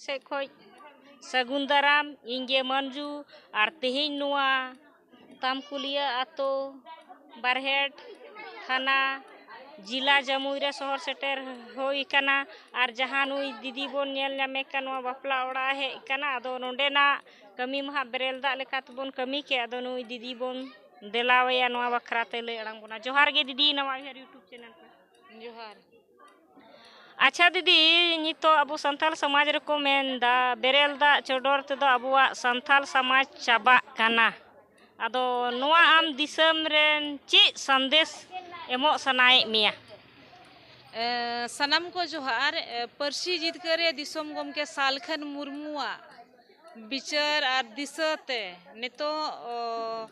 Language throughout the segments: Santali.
ᱥᱮᱫ ᱠᱷᱚᱱ ᱥᱟᱹᱜᱩᱱ ᱫᱟᱨᱟᱢ ᱤᱧ ᱜᱮ ᱢᱟᱹᱱᱡᱩ ᱟᱨ ᱛᱮᱦᱮᱧ ᱱᱚᱣᱟ ᱛᱟᱢᱠᱩᱞᱤᱭᱟᱹ ᱟᱹᱛᱩ ᱵᱟᱨᱦᱮᱴ ᱛᱷᱟᱱᱟ ᱡᱮᱞᱟ ᱡᱟᱹᱢᱩᱭ ᱨᱮ ᱥᱚᱦᱚᱨ ᱥᱮᱴᱮᱨ ᱦᱩᱭ ᱟᱠᱟᱱᱟ ᱟᱨ ᱡᱟᱦᱟᱸ ᱱᱩᱭ ᱫᱤᱫᱤ ᱵᱚᱱ ᱧᱮᱞ ᱧᱟᱢᱮ ᱠᱟᱱ ᱱᱚᱣᱟ ᱵᱟᱯᱞᱟ ᱚᱲᱟᱜ ᱮ ᱦᱮᱡ ᱟᱠᱟᱱᱟ ᱟᱫᱚ ᱱᱚᱰᱮᱱᱟᱜ ᱠᱟᱹᱢᱤ ᱢᱟ ᱦᱟᱸᱜ ᱵᱮᱨᱮᱞ ᱫᱟᱜ ᱞᱮᱠᱟ ᱛᱮᱵᱚᱱ ᱠᱟᱹᱢᱤ ᱠᱮᱫ ᱟᱫᱚ ᱱᱩᱭ ᱫᱤᱫᱤ ᱵᱚᱱ ᱫᱮᱞᱟᱣᱟᱭᱟ ᱱᱚᱣᱟ ᱵᱟᱠᱷᱨᱟ ᱛᱮ ᱞᱟᱹᱭ ᱟᱲᱟᱝ ᱵᱚᱱᱟ ᱡᱚᱦᱟᱨ ᱜᱮ ᱫᱤᱫᱤ ᱱᱟᱣᱟ ᱤᱭᱩᱴᱩᱵᱽ ᱪᱮᱱᱮᱞ ᱨᱮ ᱡᱚᱦᱟᱨ ᱟᱪᱪᱷᱟ ᱫᱤᱫᱤ ᱱᱤᱛᱚᱜ ᱟᱵᱚ ᱥᱟᱱᱛᱟᱲ ᱥᱚᱢᱟᱡᱽ ᱨᱮᱠᱚ ᱢᱮᱱᱫᱟ ᱵᱮᱨᱮᱞ ᱫᱟᱜ ᱪᱚᱰᱚᱨ ᱛᱮᱫᱚ ᱟᱵᱚᱣᱟᱜ ᱥᱟᱱᱛᱟᱲ ᱥᱚᱢᱟᱡᱽ ᱪᱟᱵᱟᱜ ᱠᱟᱱᱟ ᱟᱫᱚ ᱱᱚᱣᱟ ᱟᱢ ᱫᱤᱥᱚᱢ ᱨᱮᱱ ᱪᱮᱫ ᱥᱟᱸᱫᱮᱥ ᱮᱢᱚᱜ ᱥᱟᱱᱟᱭᱮᱫ ᱢᱮᱭᱟ ᱥᱟᱱᱟᱢ ᱠᱚ ᱡᱚᱦᱟᱨ ᱯᱟᱹᱨᱥᱤ ᱡᱤᱛᱠᱟᱹᱨ ᱨᱮ ᱫᱤᱥᱚᱢ ᱜᱚᱢᱠᱮ ᱥᱟᱞᱠᱷᱟᱱ ᱢᱩᱨᱢᱩᱣᱟᱜ ᱵᱤᱪᱟᱹᱨ ᱟᱨ ᱫᱤᱥᱟᱹ ᱛᱮ ᱱᱤᱛᱚᱜ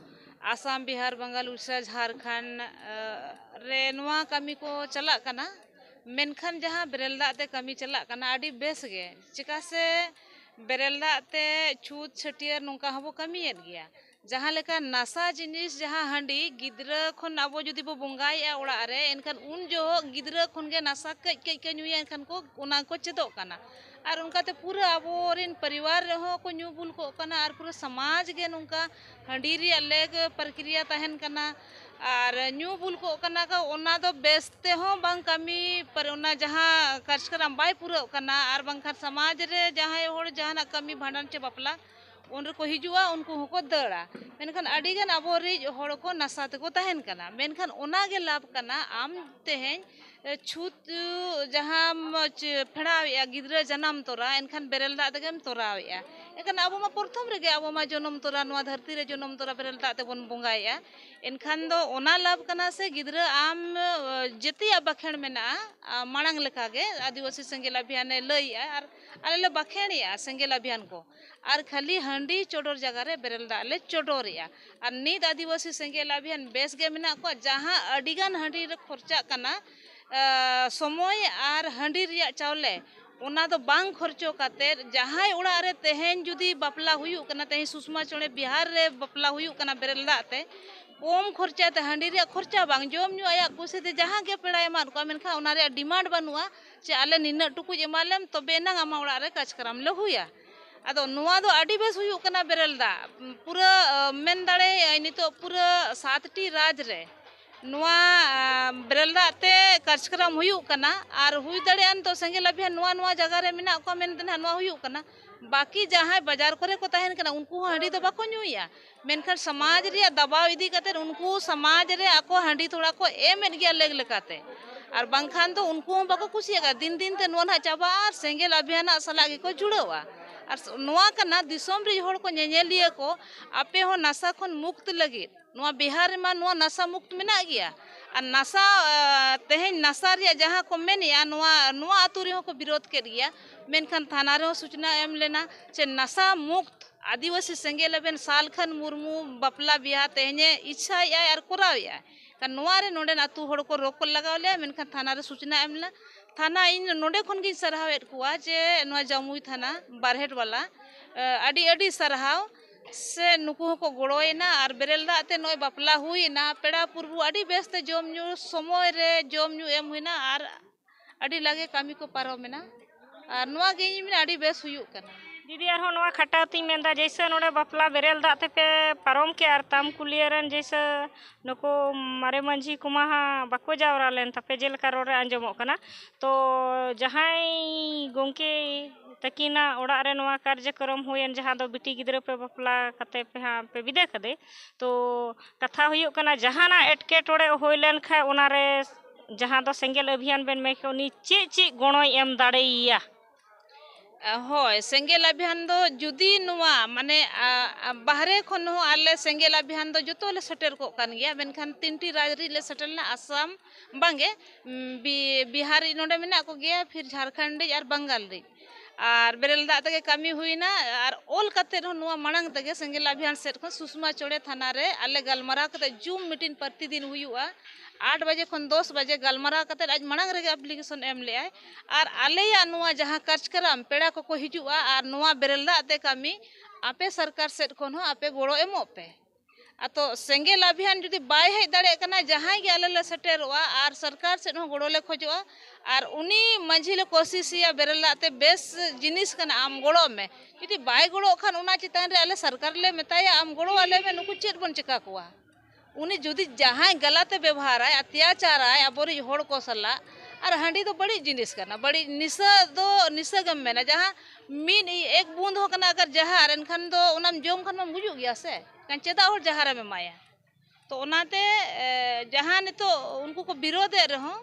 ᱟᱥᱟᱢ ᱵᱤᱦᱟᱨ ᱵᱟᱝᱜᱟᱞ ᱩᱲᱤᱥᱥᱟ ᱡᱷᱟᱲᱠᱷᱚᱸᱰ ᱨᱮ ᱱᱚᱣᱟ ᱠᱟᱹᱢᱤ ᱠᱚ ᱪᱟᱞᱟᱜ ᱠᱟᱱᱟ ᱢᱮᱱᱠᱷᱟᱱ ᱡᱟᱦᱟᱸ ᱵᱮᱨᱮᱞ ᱫᱟᱜ ᱛᱮ ᱠᱟᱹᱢᱤ ᱪᱟᱞᱟᱜ ᱠᱟᱱᱟ ᱟᱹᱰᱤ ᱵᱮᱥ ᱜᱮ ᱪᱤᱠᱟᱹ ᱥᱮ ᱵᱮᱨᱮᱞ ᱫᱟᱜ ᱛᱮ ᱪᱷᱩᱸᱛ ᱪᱷᱟᱹᱴᱭᱟᱹᱨ ᱱᱚᱝᱠᱟ ᱦᱚᱸᱵᱚ ᱠᱟᱹᱢᱤᱭᱮᱫ ᱜᱮᱭᱟ ᱡᱟᱦᱟᱸ ᱞᱮᱠᱟ ᱱᱟᱥᱟ ᱡᱤᱱᱤᱥ ᱡᱟᱦᱟᱸ ᱦᱟᱺᱰᱤ ᱜᱤᱫᱽᱨᱟᱹ ᱠᱷᱚᱱ ᱟᱵᱚ ᱡᱩᱫᱤ ᱵᱚ ᱵᱚᱸᱜᱟᱭᱮᱜᱼᱟ ᱚᱲᱟᱜ ᱨᱮ ᱮᱱᱠᱷᱟᱱ ᱩᱱ ᱡᱚᱦᱚᱜ ᱜᱤᱫᱽᱨᱟᱹ ᱠᱷᱚᱱ ᱜᱮ ᱱᱟᱥᱟ ᱠᱟᱹᱡ ᱠᱟᱹᱡ ᱠᱚ ᱧᱩᱭᱟ ᱮᱱᱠᱷᱟᱱ ᱠᱚ ᱚᱱᱟ ᱠᱚ ᱪᱮᱫᱚᱜ ᱠᱟᱱᱟ ᱟᱨ ᱚᱱᱠᱟᱛᱮ ᱯᱩᱨᱟᱹ ᱟᱵᱚ ᱨᱮᱱ ᱯᱚᱨᱤᱵᱟᱨ ᱨᱮᱦᱚᱸ ᱠᱚ ᱧᱩ ᱵᱩᱞ ᱠᱚᱜ ᱠᱟᱱᱟ ᱟᱨ ᱯᱩᱨᱟᱹ ᱥᱚᱢᱟᱡᱽ ᱜᱮ ᱱᱚᱝᱠᱟ ᱦᱟᱺᱰᱤ ᱨᱮᱭᱟᱜ ᱞᱮᱠ ᱯᱨᱚᱠᱨᱤᱭᱟ ᱛᱟᱦᱮᱱ ᱠᱟᱱᱟ ᱟᱨ ᱧᱩ ᱵᱩᱞ ᱠᱚᱜ ᱠᱟᱱᱟ ᱠᱚ ᱚᱱᱟ ᱫᱚ ᱵᱮᱥ ᱛᱮᱦᱚᱸ ᱵᱟᱝ ᱠᱟᱹᱢᱤ ᱯᱟᱨ ᱚᱱᱟ ᱡᱟᱦᱟᱸ ᱠᱟᱨᱡᱽᱠᱨᱚᱢ ᱵᱟᱭ ᱯᱩᱨᱟᱹᱜ ᱠᱟᱱᱟ ᱟᱨ ᱵᱟᱝᱠᱷᱟᱱ ᱥᱚᱢᱟᱡᱽ ᱨᱮ ᱡᱟᱦᱟᱸᱭ ᱦᱚᱲ ᱡᱟᱦᱟᱱᱟᱜ ᱠᱟᱹᱢᱤ ᱵᱷᱟᱸᱰᱟᱱ ᱪᱮ ᱵᱟᱯᱞᱟ ᱩᱱ ᱨᱮᱠᱚ ᱦᱤᱡᱩᱜᱼᱟ ᱩᱱᱠᱩ ᱦᱚᱸᱠᱚ ᱫᱟᱹᱲᱟ ᱢᱮᱱᱠᱷᱟᱱ ᱟᱹᱰᱤ ᱜᱟᱱ ᱟᱵᱚ ᱨᱤᱡ ᱦᱚᱲ ᱠᱚ ᱱᱟᱥᱟ ᱛᱮᱠᱚ ᱛᱟᱦᱮᱱ ᱠᱟᱱᱟ ᱢᱮᱱᱠᱷᱟᱱ ᱚᱱᱟ ᱜᱮ ᱞᱟᱵᱷ ᱠᱟᱱᱟ ᱟᱢ ᱛᱮᱦᱮᱧ ᱪᱷᱩᱸᱛ ᱡᱟᱦᱟᱸᱢ ᱯᱷᱮᱲᱟᱣᱮᱜᱼᱟ ᱜᱤᱫᱽᱨᱟᱹ ᱡᱟᱱᱟᱢ ᱛᱚᱨᱟ ᱮᱱᱠᱷᱟᱱ ᱵᱮᱨᱮᱞ ᱫᱟᱜ ᱛᱮᱜᱮᱢ ᱛᱚᱨᱟᱣᱮᱜᱼᱟ ᱮᱱᱠᱷᱟᱱ ᱟᱵᱚ ᱢᱟ ᱯᱨᱚᱛᱷᱚᱢ ᱨᱮᱜᱮ ᱟᱵᱚ ᱢᱟ ᱡᱚᱱᱚᱢ ᱛᱚᱨᱟ ᱱᱚᱣᱟ ᱫᱷᱟᱹᱨᱛᱤ ᱨᱮ ᱡᱚᱱᱚᱢ ᱛᱚᱨᱟ ᱵᱮᱨᱮᱞ ᱫᱟᱜ ᱛᱮᱵᱚᱱ ᱵᱚᱸᱜᱟᱭᱮᱜᱼᱟ ᱮᱱᱠᱷᱟᱱ ᱫᱚ ᱚᱱᱟ ᱞᱟᱵᱷ ᱠᱟᱱᱟ ᱥᱮ ᱜᱤᱫᱽᱨᱟᱹ ᱟᱢ ᱡᱮᱛᱮᱭᱟᱜ ᱵᱟᱠᱷᱮᱲ ᱢᱮᱱᱟᱜᱼᱟ ᱢᱟᱲᱟᱝ ᱞᱮᱠᱟᱜᱮ ᱟᱹᱫᱤᱵᱟᱹᱥᱤ ᱥᱮᱸᱜᱮᱞ ᱟᱵᱷᱤᱭᱟᱱᱮ ᱞᱟᱹᱭᱮᱜᱼᱟ ᱟᱨ ᱟᱞᱮ ᱞᱮ ᱵᱟᱠᱷᱮᱲᱮᱜᱼᱟ ᱥᱮᱸᱜᱮᱞ ᱟᱵᱷᱤᱭᱟᱱ ᱠᱚ ᱟᱨ ᱠᱷᱟᱹᱞᱤ ᱦᱟᱺᱰᱤ ᱪᱚᱰᱚᱨ ᱡᱟᱭᱜᱟ ᱨᱮ ᱵᱮᱨᱮᱞ ᱫᱟᱜ ᱞᱮ ᱪᱚᱰᱚᱨᱮᱜᱼᱟ ᱟᱨ ᱱᱤᱛ ᱟᱹᱫᱤᱵᱟᱹᱥᱤ ᱥᱮᱸᱜᱮᱞ ᱟᱵᱷᱮᱱ ᱵᱮᱥ ᱜᱮ ᱢᱮᱱᱟᱜ ᱠᱚᱣᱟ ᱡᱟᱦᱟᱸ ᱟᱹᱰᱤ ᱜᱟᱱ ᱦᱟᱺᱰᱤ ᱨᱮ ᱠᱷᱚᱨᱪᱟᱜ ᱠᱟᱱᱟ ᱥᱚᱢᱚᱭ ᱟᱨ ᱦᱟᱺᱰᱤ ᱨᱮᱭᱟᱜ ᱪᱟᱣᱞᱮ ᱚᱱᱟ ᱫᱚ ᱵᱟᱝ ᱠᱷᱚᱨᱪᱟ ᱠᱟᱛᱮ ᱡᱟᱦᱟᱸᱭ ᱚᱲᱟᱜ ᱨᱮ ᱛᱮᱦᱮᱧ ᱡᱩᱫᱤ ᱵᱟᱯᱞᱟ ᱦᱩᱭᱩᱜ ᱠᱟᱱᱟ ᱛᱮᱦᱮᱧ ᱥᱩᱥᱢᱟ ᱪᱚᱬᱮ ᱵᱤᱦᱟᱨ ᱨᱮ ᱵᱟᱯᱞᱟ ᱦᱩᱭᱩᱜ ᱠᱟᱱᱟ ᱵᱮᱨᱮᱞ ᱫᱟᱜ ᱛᱮ ᱠᱚᱢ ᱠᱷᱚᱨᱪᱟ ᱛᱮ ᱦᱟᱺᱰᱤ ᱨᱮᱭᱟᱜ ᱠᱷᱚᱨᱪᱟ ᱵᱟᱝ ᱡᱚᱢ ᱧᱩ ᱟᱭᱟᱜ ᱠᱩᱥᱤ ᱛᱮ ᱡᱟᱦᱟᱸ ᱜᱮ ᱯᱮᱲᱟᱭ ᱮᱢᱟᱫ ᱠᱚᱣᱟ ᱢᱮᱱᱠᱷᱟᱱ ᱚᱱᱟ ᱨᱮᱭᱟᱜ ᱰᱤᱢᱟᱱᱰ ᱵᱟᱹᱱᱩᱜᱼᱟ ᱪᱮ ᱟᱞᱮ ᱱᱤᱱᱟᱹᱜ ᱴᱩᱠᱩᱡ ᱮᱢᱟ ᱞᱮᱢ ᱛᱚᱵᱮ ᱮᱱᱟᱝ ᱟᱢᱟᱜ ᱚᱲᱟᱜ ᱨᱮ ᱠᱟᱡᱽᱠᱟᱨᱟᱢ ᱞᱮ ᱦᱩᱭᱟ ᱟᱫᱚ ᱱᱚᱣᱟ ᱫᱚ ᱟᱹᱰᱤ ᱵᱮᱥ ᱦᱩᱭᱩᱜ ᱠᱟᱱᱟ ᱵᱮᱨᱮᱞ ᱫᱟᱜ ᱯᱩᱨᱟᱹ ᱢᱮᱱ ᱫᱟᱲᱮᱭᱟᱜᱼᱟᱹᱧ ᱱᱤᱛᱚᱜ ᱯᱩᱨᱟᱹ ᱥᱟᱛᱴᱤ ᱨᱟᱡᱽ ᱨᱮ ᱱᱚᱣᱟ ᱵᱮᱨᱮᱞ ᱫᱟᱜ ᱛᱮ ᱠᱟᱡᱽᱠᱟᱨᱟᱢ ᱦᱩᱭᱩᱜ ᱠᱟᱱᱟ ᱟᱨ ᱦᱩᱭ ᱫᱟᱲᱮᱭᱟᱜᱼᱟ ᱱᱤᱛᱚᱜ ᱥᱮᱸᱜᱮᱞ ᱟᱵᱷᱤᱭᱟᱱ ᱱᱚᱣᱟ ᱱᱚᱣᱟ ᱡᱟᱭᱜᱟ ᱨᱮ ᱢᱮᱱᱟᱜ ᱠᱚᱣᱟ ᱢᱮᱱᱛᱮ ᱱᱟᱦᱟᱜ ᱱᱚᱣᱟ ᱦᱩᱭᱩᱜ ᱠᱟᱱᱟ ᱵᱟᱹᱠᱤ ᱡᱟᱦᱟᱸᱭ ᱵᱟᱡᱟᱨ ᱠᱚᱨᱮ ᱠᱚ ᱛᱟᱦᱮᱱ ᱠᱟᱱᱟ ᱩᱱᱠᱩ ᱦᱚᱸ ᱦᱟᱺᱰᱤ ᱫᱚ ᱵᱟᱠᱚ ᱧᱩᱭᱟ ᱢᱮᱱᱠᱷᱟᱱ ᱥᱚᱢᱟᱡᱽ ᱨᱮᱭᱟᱜ ᱫᱟᱵᱟᱣ ᱤᱫᱤ ᱠᱟᱛᱮ ᱩᱱᱠᱩ ᱥᱚᱢᱟᱡᱽ ᱨᱮ ᱟᱠᱚ ᱦᱟᱺᱰᱤ ᱛᱷᱚᱲᱟ ᱠᱚ ᱮᱢᱮᱫ ᱜᱮᱭᱟ ᱞᱮᱠ ᱞᱮᱠᱟᱛᱮ ᱟᱨ ᱵᱟᱝᱠᱷᱟᱱ ᱫᱚ ᱩᱱᱠᱩ ᱦᱚᱸ ᱵᱟᱠᱚ ᱠᱩᱥᱤᱭᱟᱜᱼᱟ ᱫᱤᱱ ᱫᱤᱱ ᱛᱮ ᱱᱚᱣᱟ ᱱᱟᱦᱟᱜ ᱪᱟᱵᱟᱜᱼᱟ ᱟᱨ ᱥᱮᱸᱜᱮᱞ ᱟᱵᱷᱤᱭᱟᱱᱟᱜ ᱥᱟᱞᱟᱜ ᱜᱮᱠᱚ ᱡᱩᱲᱟᱹᱜᱼᱟ ᱟᱨ ᱱᱚᱣᱟ ᱠᱟᱱᱟ ᱫᱤᱥᱚᱢ ᱨᱮ ᱦᱚᱲ ᱠᱚ ᱧᱮᱧᱮᱞᱤᱭᱟᱹ ᱠᱚ ᱟᱯᱮ ᱦᱚᱸ ᱱᱟᱥᱟ ᱠᱷᱚᱱ ᱢᱩᱠᱛ ᱞᱟᱹᱜᱤᱫ ᱱᱚᱣᱟ ᱵᱤᱦᱟᱨ ᱨᱮᱢᱟ ᱱᱚᱣᱟ ᱱᱟᱥᱟ ᱢᱩᱠᱛ ᱢᱮᱱᱟᱜ ᱜᱮᱭᱟ ᱟᱨ ᱱᱟᱥᱟ ᱛᱮᱦᱮᱧ ᱱᱟᱥᱟ ᱨᱮᱭᱟᱜ ᱡᱟᱦᱟᱸ ᱠᱚ ᱢᱮᱱᱮᱜᱼᱟ ᱱᱚᱣᱟ ᱱᱚᱣᱟ ᱟᱛᱳ ᱨᱮᱦᱚᱸ ᱠᱚ ᱵᱤᱨᱳᱫᱷ ᱠᱮᱫ ᱜᱮᱭᱟ ᱢᱮᱱᱠᱷᱟᱱ ᱛᱷᱟᱱᱟ ᱨᱮᱦᱚᱸ ᱥᱩᱪᱱᱟ ᱮᱢ ᱞᱮᱱᱟ ᱪᱮ ᱱᱟᱥᱟ ᱢᱩᱠᱛ ᱟᱹᱫᱤᱵᱟᱹᱥᱤ ᱥᱮᱸᱜᱮᱞ ᱮᱵᱷᱮᱱ ᱥᱟᱞᱠᱷᱟᱱ ᱢᱩᱨᱢᱩ ᱵᱟᱯᱞᱟ ᱵᱤᱦᱟᱹ ᱛᱮᱦᱮᱧᱮ ᱤᱪᱪᱷᱟᱭᱮᱫ ᱟᱭ ᱟᱨ ᱠᱚᱨᱟᱣᱮᱫ ᱟᱭ ᱠᱷᱟᱱ ᱱᱚᱣᱟ ᱨᱮ ᱱᱚᱰᱮᱱ ᱟᱹᱛᱩ ᱦᱚᱲ ᱠᱚ ᱨᱚᱯᱚᱲ ᱞᱟᱜᱟᱣ ᱞᱮᱭᱟ ᱢᱮᱱᱠᱷᱟᱱ ᱛᱷᱟᱱᱟ ᱨᱮ ᱥᱩᱪᱱᱟ ᱮᱢ ᱞᱮᱱᱟ ᱛᱷᱟᱱᱟ ᱤᱧ ᱱᱚᱰᱮ ᱠᱷᱚᱱ ᱜᱤᱧ ᱥᱟᱨᱦᱟᱣᱮᱫ ᱠᱚᱣᱟ ᱡᱮ ᱱᱚᱣᱟ ᱡᱟᱹᱢᱩᱭ ᱛᱷᱟᱱᱟ ᱵᱟᱨᱦᱮᱴ ᱵᱟᱞᱟ ᱟᱹᱰᱤ ᱟᱹᱰᱤ ᱥᱟᱨᱦᱟᱣ ᱥᱮ ᱱᱩᱠᱩ ᱦᱚᱸᱠᱚ ᱜᱚᱲᱚᱭᱮᱱᱟ ᱟᱨ ᱵᱮᱨᱮᱞ ᱫᱟᱜ ᱛᱮ ᱱᱚᱜᱼᱚᱭ ᱵᱟᱯᱞᱟ ᱦᱩᱭᱮᱱᱟ ᱯᱮᱲᱟ ᱯᱩᱨᱵᱷᱩ ᱟᱹᱰᱤ ᱵᱮᱥᱛᱮ ᱡᱚᱢ ᱧᱩ ᱥᱚᱢᱚᱭ ᱨᱮ ᱡᱚᱢ ᱧᱩ ᱮᱢ ᱦᱩᱭᱮᱱᱟ ᱟᱨ ᱟᱹᱰᱤ ᱞᱟᱜᱮ ᱠᱟᱹᱢᱤ ᱠᱚ ᱯᱟᱨᱚᱢᱮᱱᱟ ᱟᱨ ᱱᱚᱣᱟ ᱜᱮ ᱤᱧ ᱢᱮᱱᱟ ᱟᱹᱰᱤ ᱵᱮᱥ ᱦᱩᱭᱩᱜ ᱠᱟᱱᱟ ᱫᱤᱫᱤ ᱟᱨᱦᱚᱸ ᱱᱚᱣᱟ ᱠᱷᱟᱴᱟᱣ ᱛᱤᱧ ᱢᱮᱱᱫᱟ ᱡᱮᱭᱥᱮ ᱱᱚᱰᱮ ᱵᱟᱯᱞᱟ ᱵᱮᱨᱮᱞ ᱫᱟᱜ ᱛᱮᱯᱮ ᱯᱟᱨᱚᱢ ᱠᱮᱫᱼᱟ ᱟᱨ ᱛᱟᱢ ᱠᱩᱞᱤᱭᱟᱹ ᱨᱮᱱ ᱡᱮᱭᱥᱮ ᱱᱩᱠᱩ ᱢᱟᱨᱮ ᱢᱟᱺᱡᱷᱤ ᱠᱚᱢᱟ ᱦᱟᱸᱜ ᱵᱟᱠᱚ ᱡᱟᱣᱨᱟ ᱞᱮᱱ ᱛᱟᱯᱮ ᱡᱮᱞᱮᱠᱟ ᱨᱚᱲ ᱨᱮ ᱟᱸᱡᱚᱢᱚᱜ ᱠᱟᱱᱟ ᱛᱚ ᱡᱟᱦᱟᱸᱭ ᱜᱚᱢᱠᱮ ᱛᱟᱹᱠᱤᱱᱟᱜ ᱚᱲᱟᱜ ᱨᱮ ᱱᱚᱣᱟ ᱠᱟᱨᱡᱚᱠᱨᱚᱢ ᱦᱩᱭᱮᱱ ᱡᱟᱦᱟᱸ ᱫᱚ ᱵᱤᱴᱤ ᱜᱤᱫᱽᱨᱟᱹ ᱯᱮ ᱵᱟᱯᱞᱟ ᱠᱟᱛᱮ ᱯᱮ ᱦᱟᱸᱜ ᱯᱮ ᱵᱤᱫᱟᱹ ᱠᱟᱫᱮ ᱛᱚ ᱠᱟᱛᱷᱟ ᱦᱩᱭᱩᱜ ᱠᱟᱱᱟ ᱡᱟᱦᱟᱱᱟᱜ ᱮᱴᱠᱮᱴᱚᱬᱮ ᱦᱩᱭ ᱞᱮᱱᱠᱷᱟᱱ ᱚᱱᱟᱨᱮ ᱡᱟᱦᱟᱸ ᱫᱚ ᱥᱮᱸᱜᱮᱞ ᱚᱵᱷᱤᱭᱟᱱ ᱵᱮᱱ ᱢᱮᱱ ᱩᱱᱤ ᱪᱮᱫ ᱪᱮᱫ ᱜᱚᱲᱚᱭ ᱮᱢ ᱫᱟᱲᱮᱭᱟᱭᱟ ᱦᱳᱭ ᱥᱮᱸᱜᱮᱞ ᱟᱵᱷᱤᱭᱟᱱ ᱫᱚ ᱡᱩᱫᱤ ᱱᱚᱣᱟ ᱢᱟᱱᱮ ᱵᱟᱦᱨᱮ ᱠᱷᱚᱱ ᱦᱚᱸ ᱟᱞᱮ ᱥᱮᱸᱜᱮᱞ ᱟᱵᱷᱤᱭᱟᱱ ᱫᱚ ᱡᱚᱛᱚ ᱞᱮ ᱥᱮᱴᱮᱨ ᱠᱚᱜ ᱠᱟᱱ ᱜᱮᱭᱟ ᱢᱮᱱᱠᱷᱟᱱ ᱛᱤᱱᱴᱤ ᱨᱟᱡᱽ ᱨᱤᱱ ᱞᱮ ᱥᱮᱴᱮᱨ ᱞᱮᱱᱟ ᱟᱥᱟᱢ ᱵᱟᱝᱜᱮ ᱵᱤᱦᱟᱨᱤ ᱱᱚᱰᱮ ᱢᱮᱱᱟᱜ ᱠᱚᱜᱮᱭᱟ ᱯᱷᱤᱨ ᱡᱷᱟᱲᱠᱷᱚᱸᱰ ᱨᱤᱱ ᱟᱨ ᱵᱟᱝᱜᱟᱞ ᱨᱤᱱ ᱟᱨ ᱵᱮᱨᱮᱞ ᱫᱟᱜ ᱛᱮᱜᱮ ᱠᱟᱹᱢᱤ ᱦᱩᱭᱱᱟ ᱟᱨ ᱚᱞ ᱠᱟᱛᱮ ᱦᱚᱸ ᱱᱚᱣᱟ ᱢᱟᱲᱟᱝ ᱛᱮᱜᱮ ᱥᱮᱸᱜᱮᱞ ᱟᱵᱷᱤᱭᱟᱱ ᱥᱮᱫ ᱠᱷᱚᱱ ᱥᱩᱥᱢᱟ ᱪᱚᱬᱮ ᱛᱷᱟᱱᱟ ᱨᱮ ᱟᱞᱮ ᱜᱟᱞᱢᱟᱨᱟᱣ ᱠᱟᱛᱮ ᱡᱩᱢ ᱢᱤᱴᱤᱝ ᱯᱨᱚᱛᱤ ᱫᱤᱱ ᱦᱩᱭᱩᱜᱼᱟ ᱟᱴ ᱵᱟᱡᱮ ᱠᱷᱚᱱ ᱫᱚᱥ ᱵᱟᱡᱮ ᱜᱟᱞᱢᱟᱨᱟᱣ ᱠᱟᱛᱮ ᱟᱡ ᱢᱟᱲᱟᱝ ᱨᱮᱜᱮ ᱮᱯᱞᱤᱠᱮᱥᱚᱱ ᱮᱢ ᱞᱮᱜᱼᱟᱭ ᱟᱨ ᱟᱞᱮᱭᱟᱜ ᱱᱚᱣᱟ ᱡᱟᱦᱟᱸ ᱠᱟᱨᱡᱽᱠᱨᱚᱢ ᱯᱮᱲᱟ ᱠᱚᱠᱚ ᱦᱤᱡᱩᱜᱼᱟ ᱟᱨ ᱱᱚᱣᱟ ᱵᱮᱨᱮᱞ ᱫᱟᱜ ᱛᱮ ᱠᱟᱹᱢᱤ ᱟᱯᱮ ᱥᱚᱨᱠᱟᱨ ᱥᱮᱫ ᱠᱷᱚᱱ ᱦᱚᱸ ᱟᱯᱮ ᱜᱚᱲᱚ ᱮᱢᱚᱜ ᱯᱮ ᱟᱫᱚ ᱥᱮᱸᱜᱮᱞ ᱟᱵᱷᱤᱭᱟᱱ ᱡᱩᱫᱤ ᱵᱟᱭ ᱦᱮᱡ ᱫᱟᱲᱮᱭᱟᱜ ᱠᱟᱱᱟ ᱡᱟᱦᱟᱸᱭ ᱜᱮ ᱟᱞᱮ ᱞᱮ ᱥᱮᱴᱮᱨᱚᱜᱼᱟ ᱟᱨ ᱥᱚᱨᱠᱟᱨ ᱥᱮᱫ ᱦᱚᱸ ᱜᱚᱲᱚ ᱞᱮ ᱠᱷᱚᱡᱚᱜᱼᱟ ᱟᱨ ᱩᱱᱤ ᱢᱟᱺᱡᱷᱤ ᱞᱮ ᱠᱳᱥᱤᱥᱮᱭᱟ ᱵᱮᱨᱮᱞ ᱫᱟᱜ ᱛᱮ ᱵᱮᱥ ᱡᱤᱱᱤᱥ ᱠᱟᱱᱟ ᱟᱢ ᱜᱚᱲᱚᱜ ᱢᱮ ᱡᱩᱫᱤ ᱵᱟᱭ ᱜᱚᱲᱚᱜ ᱠᱷᱟᱱ ᱚᱱᱟ ᱪᱮᱛᱟᱱ ᱨᱮ ᱟᱞᱮ ᱥᱚᱨᱠᱟᱨ ᱞᱮ ᱢᱮᱛᱟᱭᱟ ᱟᱢ ᱜᱚᱲᱚ ᱟᱞᱮ ᱢᱮ ᱱᱩᱠᱩ ᱪᱮᱫ ᱵᱚᱱ ᱪᱤᱠᱟᱹ ᱠᱚᱣᱟ ᱩᱱᱤ ᱡᱩᱫᱤ ᱡᱟᱦᱟᱸᱭ ᱜᱟᱞᱟᱛᱮ ᱵᱮᱵᱚᱦᱟᱨᱟᱭ ᱚᱛᱛᱟᱪᱟᱨᱟᱭ ᱟᱵᱚ ᱨᱮᱱ ᱦᱚᱲ ᱠᱚ ᱥᱟᱞᱟᱜ ᱟᱨ ᱦᱟᱺᱰᱤ ᱫᱚ ᱵᱟᱹᱲᱤᱡ ᱡᱤᱱᱤᱥ ᱠᱟᱱᱟ ᱵᱟᱹᱲᱤᱡ ᱱᱤᱥᱟᱹ ᱫᱚ ᱱᱤᱥᱟᱹ ᱜᱮᱢ ᱢᱮᱱᱟ ᱡᱟᱦᱟᱸ ᱢᱤᱫ ᱮᱠ ᱵᱩᱸᱫ ᱦᱚᱸ ᱠᱟᱱᱟ ᱟᱜᱟᱨ ᱡᱟᱦᱟᱨ ᱮᱱᱠᱷᱟᱱ ᱫᱚ ᱚᱱᱟᱢ ᱡᱚᱢ ᱠᱷᱟᱱ ᱢᱟᱢ ᱜᱩᱡᱩᱜ ᱜᱮᱭᱟ ᱥᱮ ᱮᱱᱠᱷᱟᱱ ᱪᱮᱫᱟᱜ ᱦᱚᱲ ᱡᱟᱦᱟᱨᱮᱢ ᱮᱢᱟᱭᱟ ᱛᱚ ᱚᱱᱟᱛᱮ ᱡᱟᱦᱟᱸ ᱱᱤᱛᱚᱜ ᱩᱱᱠᱩ ᱠᱚ ᱵᱤᱨᱳᱫᱮᱫ ᱨᱮᱦᱚᱸ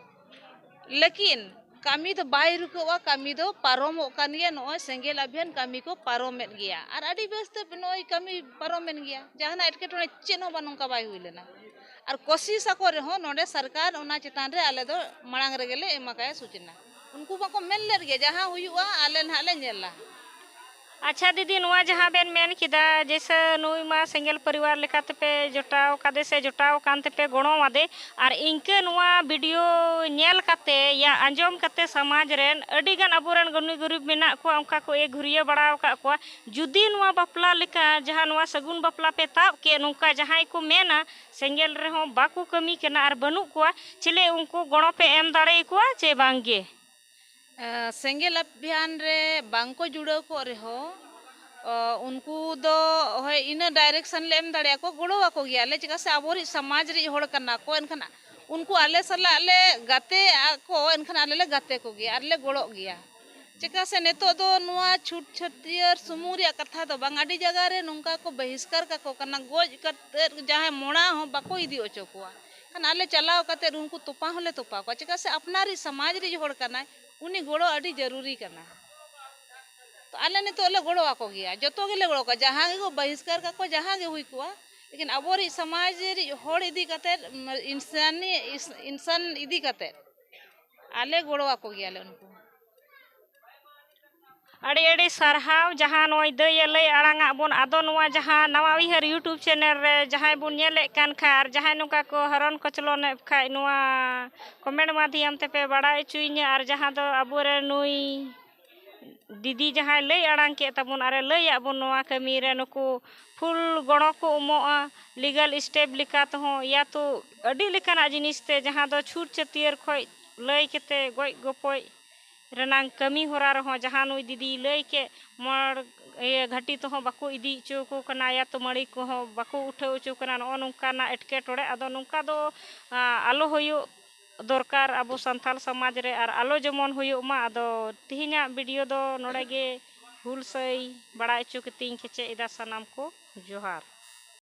ᱞᱮᱠᱤᱱ ᱠᱟᱹᱢᱤ ᱫᱚ ᱵᱟᱭ ᱨᱩᱠᱟᱹᱜᱼᱟ ᱠᱟᱹᱢᱤ ᱫᱚ ᱯᱟᱨᱚᱢᱚᱜ ᱠᱟᱱ ᱜᱮᱭᱟ ᱱᱚᱜᱼᱚᱭ ᱥᱮᱸᱜᱮᱞ ᱟᱵᱷᱤᱭᱟᱱ ᱠᱟᱹᱢᱤ ᱠᱚ ᱯᱟᱨᱚᱢᱮᱫ ᱜᱮᱭᱟ ᱟᱨ ᱟᱹᱰᱤ ᱵᱮᱥᱛᱮ ᱱᱚᱜᱼᱚᱭ ᱠᱟᱹᱢᱤ ᱯᱟᱨᱚᱢᱮᱱ ᱜᱮᱭᱟ ᱡᱟᱦᱟᱱᱟᱜ ᱮᱴᱠᱮᱴᱚᱬᱮ ᱪᱮᱫ ᱦᱚᱸ ᱵᱟᱝ ᱱᱚᱝᱠᱟ ᱵᱟᱭ ᱦᱩᱭ ᱞᱮᱱᱟ ᱟᱨ ᱠᱳᱥᱤᱥ ᱟᱠᱚ ᱨᱮᱦᱚᱸ ᱱᱚᱰᱮ ᱥᱚᱨᱠᱟᱨ ᱚᱱᱟ ᱪᱮᱛᱟᱱ ᱨᱮ ᱟᱞᱮ ᱫᱚ ᱢᱟᱲᱟᱝ ᱨᱮᱜᱮ ᱞᱮ ᱮᱢ ᱟᱠᱟᱫᱟ ᱥᱩᱪᱚᱱᱟ ᱩᱱᱠᱩ ᱵᱟᱠᱚ ᱢᱮᱱ ᱞᱮᱫ ᱜᱮ ᱡᱟᱦᱟᱸ ᱦᱩᱭᱩᱜᱼᱟ ᱟᱞᱮ ᱱᱟᱦᱟᱜ ᱞᱮ ᱧᱮᱞᱟ᱾ ᱟᱪᱪᱷᱟ ᱫᱤᱫᱤ ᱱᱚᱣᱟ ᱡᱟᱦᱟᱸ ᱵᱮᱱ ᱢᱮᱱ ᱠᱮᱫᱟ ᱡᱮᱭᱥᱮ ᱱᱩᱭ ᱢᱟ ᱥᱮᱸᱜᱮᱞ ᱯᱚᱨᱤᱵᱟᱨ ᱞᱮᱠᱟ ᱛᱮᱯᱮ ᱡᱚᱴᱟᱣ ᱠᱟᱫᱮ ᱥᱮ ᱡᱚᱴᱟᱣ ᱟᱠᱟᱱ ᱛᱮᱯᱮ ᱜᱚᱲᱚ ᱟᱫᱮ ᱟᱨ ᱤᱱᱠᱟᱹ ᱱᱚᱣᱟ ᱵᱷᱤᱰᱤᱭᱳ ᱧᱮᱞ ᱠᱟᱛᱮ ᱭᱟ ᱟᱸᱡᱚᱢ ᱠᱟᱛᱮ ᱥᱚᱢᱟᱡᱽ ᱨᱮᱱ ᱟᱹᱰᱤ ᱜᱟᱱ ᱟᱵᱚ ᱨᱮᱱ ᱜᱩᱱᱤ ᱜᱩᱨᱤᱵᱽ ᱢᱮᱱᱟᱜ ᱠᱚᱣᱟ ᱚᱱᱠᱟ ᱠᱚ ᱮ ᱜᱷᱩᱨᱭᱟᱹ ᱵᱟᱲᱟ ᱟᱠᱟᱫ ᱠᱚᱣᱟ ᱡᱩᱫᱤ ᱱᱚᱣᱟ ᱵᱟᱯᱞᱟ ᱞᱮᱠᱟ ᱡᱟᱦᱟᱸ ᱱᱚᱣᱟ ᱥᱟᱹᱜᱩᱱ ᱵᱟᱯᱞᱟ ᱯᱮ ᱛᱟᱵ ᱠᱮᱫ ᱱᱚᱝᱠᱟ ᱡᱟᱦᱟᱸᱭ ᱠᱚ ᱢᱮᱱᱟ ᱥᱮᱸᱜᱮᱞ ᱨᱮᱦᱚᱸ ᱵᱟᱠᱚ ᱠᱟᱹᱢᱤ ᱠᱟᱱᱟ ᱟᱨ ᱵᱟᱹᱱᱩᱜ ᱠᱚᱣᱟ ᱪᱮᱞᱮ ᱩᱱᱠᱩ ᱜᱚᱲᱚ ᱯᱮ ᱮᱢ ᱫᱟᱲᱮ ᱟᱠᱚᱣᱟ ᱪᱮ ᱵᱟᱝ ᱜᱮ? ᱥᱮᱸᱜᱮᱞ ᱟᱵᱷᱤᱭᱟᱱ ᱨᱮ ᱵᱟᱝ ᱠᱚ ᱡᱩᱲᱟᱹᱣ ᱠᱚᱜ ᱨᱮᱦᱚᱸ ᱩᱱᱠᱩ ᱫᱚ ᱦᱳᱭ ᱤᱱᱟᱹ ᱰᱟᱭᱨᱮᱠᱥᱚᱱ ᱞᱮ ᱮᱢ ᱫᱟᱲᱮ ᱟᱠᱚᱣᱟ ᱜᱚᱲᱚ ᱟᱠᱚ ᱜᱮᱭᱟ ᱞᱮ ᱪᱮᱫᱟᱜ ᱥᱮ ᱟᱵᱚᱨᱤᱡ ᱥᱚᱢᱟᱡᱽ ᱨᱤᱡ ᱦᱚᱲ ᱠᱟᱱᱟ ᱠᱚ ᱮᱱᱠᱷᱟᱱ ᱩᱱᱠᱩ ᱟᱞᱮ ᱥᱟᱞᱟᱜ ᱞᱮ ᱜᱟᱛᱮ ᱟᱠᱚ ᱮᱱᱠᱷᱟᱱ ᱟᱞᱮ ᱞᱮ ᱜᱟᱛᱮ ᱠᱚᱜᱮᱭᱟ ᱟᱨ ᱞᱮ ᱜᱚᱲᱚᱜ ᱜᱮᱭᱟ᱾ ᱪᱮᱫᱟᱜ ᱥᱮ ᱱᱤᱛᱚᱜ ᱫᱚ ᱱᱚᱣᱟ ᱪᱷᱩᱴ ᱪᱷᱟᱹᱴᱭᱟᱹᱨ ᱥᱩᱢᱩᱝ ᱨᱮᱭᱟᱜ ᱠᱟᱛᱷᱟ ᱫᱚ ᱵᱟᱝ ᱟᱹᱰᱤ ᱡᱟᱭᱜᱟ ᱨᱮ ᱱᱚᱝᱠᱟ ᱠᱚ ᱵᱟᱹᱦᱤᱥᱠᱟᱨ ᱠᱟᱠᱚ ᱠᱟᱱᱟ ᱜᱚᱡ ᱠᱟᱛᱮᱫ ᱡᱟᱦᱟᱸᱭ ᱢᱚᱲᱟ ᱦᱚᱸ ᱵᱟᱠᱚ ᱤᱫᱤ ᱦᱚᱪᱚ ᱠᱚᱣᱟ ᱮᱱᱠᱷᱟᱱ ᱟᱞᱮ ᱪᱟᱞᱟᱣ ᱠᱟᱛᱮᱫ ᱩᱱᱠᱩ ᱛᱚᱯᱟ ᱦᱚᱸᱞᱮ ᱛᱚᱯᱟ ᱠᱚᱣᱟ ᱪᱮᱫᱟᱜ ᱥᱮ ᱟᱯᱱᱟᱨᱤᱡ ᱥᱚᱢᱟᱡᱽ ᱨᱮᱱ ᱦᱚᱲ ᱠᱟᱱᱟᱭ ᱩᱱᱤ ᱜᱚᱲᱚ ᱟᱹᱰᱤ ᱡᱟᱹᱨᱩᱨᱤ ᱠᱟᱱᱟ ᱛᱳ ᱟᱞᱮ ᱱᱤᱛᱚᱜ ᱞᱮ ᱜᱚᱲᱚ ᱟᱠᱚ ᱜᱮᱭᱟ ᱡᱚᱛᱚ ᱜᱮᱞᱮ ᱜᱚᱲᱚ ᱟᱠᱚᱣᱟ ᱡᱟᱦᱟᱸ ᱜᱮᱠᱚ ᱵᱟᱹᱦᱤᱥᱠᱟᱨ ᱠᱟᱠᱚ ᱡᱟᱦᱟᱸ ᱜᱮ ᱦᱩᱭ ᱠᱚᱜᱼᱟ ᱞᱮᱠᱤᱱ ᱟᱵᱚ ᱨᱮᱱ ᱥᱚᱢᱟᱡᱽ ᱨᱮᱱ ᱦᱚᱲ ᱤᱫᱤ ᱠᱟᱛᱮᱫ ᱤᱱᱥᱟᱱᱤ ᱤᱱᱥᱟᱱ ᱤᱫᱤ ᱠᱟᱛᱮᱫ ᱟᱞᱮ ᱜᱚᱲᱚ ᱟᱠᱚ ᱜᱮᱭᱟᱞᱮ ᱩᱱᱠᱩ ᱦᱚᱸ ᱟᱹᱰᱤ ᱟᱹᱰᱤ ᱥᱟᱨᱦᱟᱣ ᱡᱟᱦᱟᱸ ᱱᱚᱜᱼᱚᱭ ᱫᱟᱹᱭᱮ ᱞᱟᱹᱭ ᱟᱲᱟᱝ ᱟᱫ ᱵᱚᱱ ᱟᱫᱚ ᱱᱚᱣᱟ ᱡᱟᱦᱟᱸ ᱱᱟᱣᱟ ᱩᱭᱦᱟᱹᱨ ᱤᱭᱩᱴᱩᱵᱽ ᱪᱮᱱᱮᱞ ᱨᱮ ᱡᱟᱦᱟᱸᱭ ᱵᱚᱱ ᱧᱮᱞᱮᱫ ᱠᱟᱱ ᱠᱷᱟᱱ ᱟᱨ ᱡᱟᱦᱟᱸᱭ ᱱᱚᱝᱠᱟ ᱠᱚ ᱦᱚᱨᱚᱱ ᱠᱚᱪᱞᱚᱱᱮᱫ ᱠᱷᱟᱱ ᱱᱚᱣᱟ ᱠᱚᱢᱮᱱᱴ ᱢᱟᱫᱽᱫᱷᱚᱢ ᱛᱮᱯᱮ ᱵᱟᱲᱟᱭ ᱦᱚᱪᱚᱭᱤᱧᱟᱹ ᱟᱨ ᱡᱟᱦᱟᱸ ᱫᱚ ᱟᱵᱚᱨᱮᱱ ᱱᱩᱭ ᱫᱤᱫᱤ ᱡᱟᱦᱟᱸᱭ ᱞᱟᱹᱭ ᱟᱲᱟᱝ ᱠᱮᱫ ᱛᱟᱵᱚᱱ ᱟᱨᱮ ᱞᱟᱹᱭᱟᱜ ᱵᱚᱱ ᱱᱚᱣᱟ ᱠᱟᱹᱢᱤ ᱨᱮ ᱱᱩᱠᱩ ᱯᱷᱩᱞ ᱜᱚᱲᱚ ᱠᱚ ᱮᱢᱚᱜᱼᱟ ᱞᱤᱜᱟᱞ ᱥᱴᱮᱯ ᱞᱮᱠᱟ ᱛᱮᱦᱚᱸ ᱤᱭᱟ ᱛᱚ ᱟᱹᱰᱤ ᱞᱮᱠᱟᱱᱟᱜ ᱡᱤᱱᱤᱥ ᱛᱮ ᱡᱟᱦᱟᱸ ᱫᱚ ᱪᱷᱩᱸᱛ ᱪᱷᱟᱹᱴᱭᱟᱹᱨ ᱠᱷᱚᱱ ᱞᱟᱹᱭ ᱠᱟᱛᱮ ᱜᱚᱡ ᱜᱚᱯᱚᱡ ᱨᱮᱱᱟᱝ ᱠᱟᱹᱢᱤ ᱦᱚᱨᱟ ᱨᱮᱦᱚᱸ ᱡᱟᱦᱟᱸ ᱱᱩᱭ ᱫᱤᱫᱤᱭ ᱞᱟᱹᱭ ᱠᱮᱫ ᱢᱚᱬ ᱤᱭᱟᱹ ᱜᱷᱟᱹᱴᱤ ᱛᱮᱦᱚᱸ ᱵᱟᱠᱚ ᱤᱫᱤ ᱦᱚᱪᱚ ᱟᱠᱚ ᱠᱟᱱᱟ ᱤᱭᱟ ᱛᱚ ᱢᱟᱹᱬᱤ ᱠᱚᱦᱚᱸ ᱵᱟᱠᱚ ᱩᱴᱷᱟᱹᱣ ᱦᱚᱪᱚ ᱠᱟᱱᱟ ᱱᱚᱜᱼᱚ ᱱᱚᱝᱠᱟᱱᱟᱜ ᱮᱴᱠᱮᱴᱚᱬᱮ ᱟᱫᱚ ᱱᱚᱝᱠᱟ ᱫᱚ ᱟᱞᱚ ᱦᱩᱭᱩᱜ ᱫᱚᱨᱠᱟᱨ ᱟᱵᱚ ᱥᱟᱱᱛᱟᱲ ᱥᱚᱢᱟᱡᱽ ᱨᱮ ᱟᱨ ᱟᱞᱚ ᱡᱮᱢᱚᱱ ᱦᱩᱭᱩᱜ ᱢᱟ ᱟᱫᱚ ᱛᱮᱦᱮᱧᱟᱜ ᱵᱷᱤᱰᱤᱭᱳ ᱫᱚ ᱱᱚᱰᱮ ᱜᱮ ᱦᱩᱞ ᱥᱟᱹᱭ ᱵᱟᱲᱟᱭ ᱦᱚᱪᱚ ᱠᱟᱛᱮᱧ ᱠᱮᱪᱮᱫ ᱮᱫᱟ ᱥᱟᱱᱟᱢ ᱠᱚ ᱡᱚᱦᱟᱨ